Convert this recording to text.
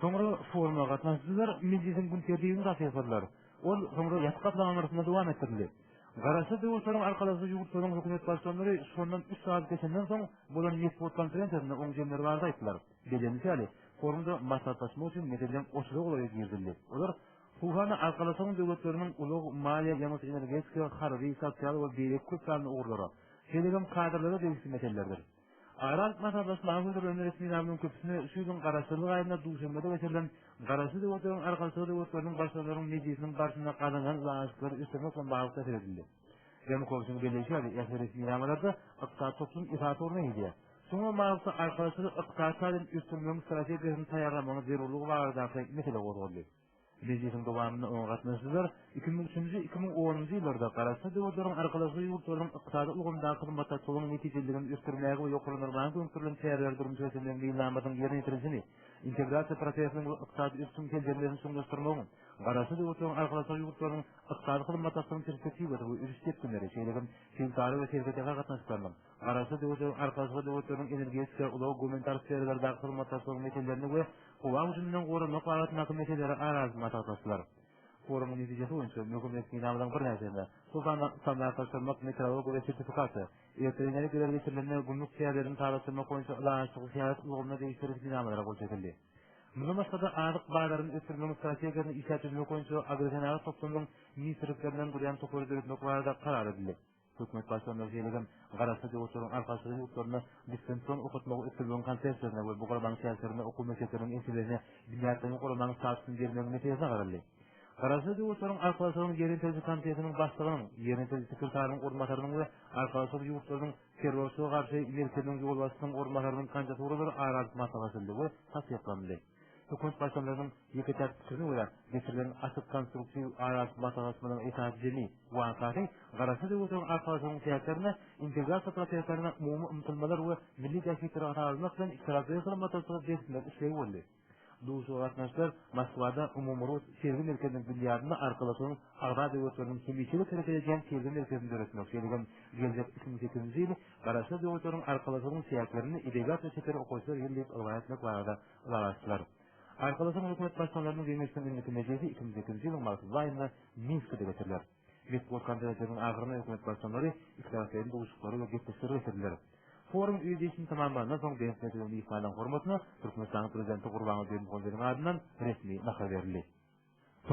Soňra foruma gatnaşyjylar mejlisiň gün tertibini tassykladylar. Ol soňra ýapyk gaplaňyň arasynda dowam etdirildi. Garaşsyz döwletleriň arkalaşyjy ýurtlaryň hökümet başlanlary şondan üç sagat geçenden soň bolan metbugat konferensiýasynda oň jemleri barada aýtdylar. Bellenilişi ýaly, forumda maslahatlaşmak üçin meseleler oşurak ulaga girizildi. Olar Huhana Arkalaşygyň döwletleriniň ulag, maliýe, ýangyç-energetika, harby, sosial we beýleki köp sanly ugurlara, şeýle hem kadrlara degişli meselelerdir. Aral Masally Sylamy hödürlenen resminamaň köpüsine şu ýylyň Garaşsyzlyk aýynda Duşanbede geçirilen Garaşsyz döwletleriň arkalaşygy döwletleriniň Başlyklarynyň mejlisiniň barşynda gazanylan ylalaşyklary ösdürmek bilen bagly täsir edildi. Ýanukowçyň belleýşi ýaly, ähli resminamalarda ykdysady toplum esasy orun eýeleýär. Şoňa bilen baglylykda, arkalaşygy ykdysady taýdan ösdürmegiň strategiýasyny taýýarlamagyň zerurlygy baradaky mesele gozgaldy. Mejlisiň dowamynda oňa gatnaşyjylar iki müň üçünji, iki müň onunjy ýyllarda Garaşsyz döwletleriň Arkalaşygy ýurtlarynyň ykdysady ulgamdaky hyzmatdaşlygynyň netijeliligini ösdürmäge we ýokarlandyrmaga gönükdirilen çäreleri durmuşa geçirmegiň meýilnamasynyň ýerine ýetirilişini, integrasiýa prosesiniň we ykdysady ösüşiň seljermelerini çuňlaşdyrmagyň Garaşsyz döwletleriň Arkalaşygy ýurtlarynyň ykdysady hyzmatdaşlygynyň perspektiwasy we ösüş depginleri, şeýle hem sebitara we serhetara gatnaşyklarynyň Garaşsyz döwletleriň Arkalaşykly Döwletleriň energetika, ulag, gumanitar sferalardaky hyzmatdaşlygyň meselelerini we howa hüjüminden goranmak babatyndaky meseleleri ara alyp maslahatlaşdylar. Forumyň netijesi boýunça möhüm resminamalaryň birnäçesine, şol sanda standartlaşdyrmak, metrologiýa we sertifikasiýa, elektroenergiýalar geçirilende gümrük çäglerini sazlaşdyrmak boýunça ylalaşykly syýasat ulgamyna degişli resminamalara gol çekildi. Mundan başga-da, azyk bazaryny ösdürmegiň strategiýasyny işläp düzmek boýunça agrosenagat toplumynyň ministrliklerinden durýan topary döretmek barada karar edildi. Hökümet başlangyjy şeýle-de Garaşsyz ýurtlaryň Arkalaşygy ýurtlarynda distansion okatmagy ösdürmegiň konsepsiýasyna we bu guramanyň çäklerinde okuw mekdepleriniň ençemesine binýatlaýyn guramaň statusyny bermegiň meselesine garaldy. Garaşsyz ýurtlaryň Arkalaşygynyň Ýerýetiriji komitetiniň başlygynyň, Ýerýetiriji sekretarynyň orunbasarynyň we Arkalaşyk ýurtlarynyň Terrorçylyga garşy merkeziniň ýolbaşçysynyň orunbasarynyň kandidaturalary ara alyp maslahatlaşyldy we tassyklandy. Hökümet başlyklarynyň ýeke-täk pikirine görä, geçirilen açyk konstruktiw aralyk maslahatlarynyň esasy jemi wakasy Garaşsyz Ýewropa Arkalaşygynyň çäklerinde integrasiýa proseslerine umumy ymtylmalar we milli bähbitleri ara almak bilen ikitaraplaýyn hyzmatdaşlygy berkitmek islegi boldy. Duşuşyga gatnaşyjylar Moskwada Umumyrus sergi merkeziniň binýadynda Arkalaşygyň agza döwletleriniň hemişelik hereket edýän sergi merkezini döretmek, şeýle hem geljek iki müň sekizinji ýyl Garaşsyz döwletleriň Arkalaşygyň çäklerinde edebiýat we çeper okaýyşlar ýyly diýip yglan etmek barada ylalaşdylar. Arkalaşygyň hökümet başlyklarynyň geňeşiniň indiki mejlisi iki müň sekizinji ýylyň martly aýynda Minskide geçiriler. Metbugat konferensiýasynyň ahyrynda hökümet başlyklary ikitaraplaýyn duşuşyklary we gepleşikleri geçirdiler. Forum öz işini tamamlandan soň Bent Mejlisiň myhmanyň hormatyna Türkmenistanyň Prezidenti Gurbanguly Berdimuhamedowyň adyndan resmi nahar berildi.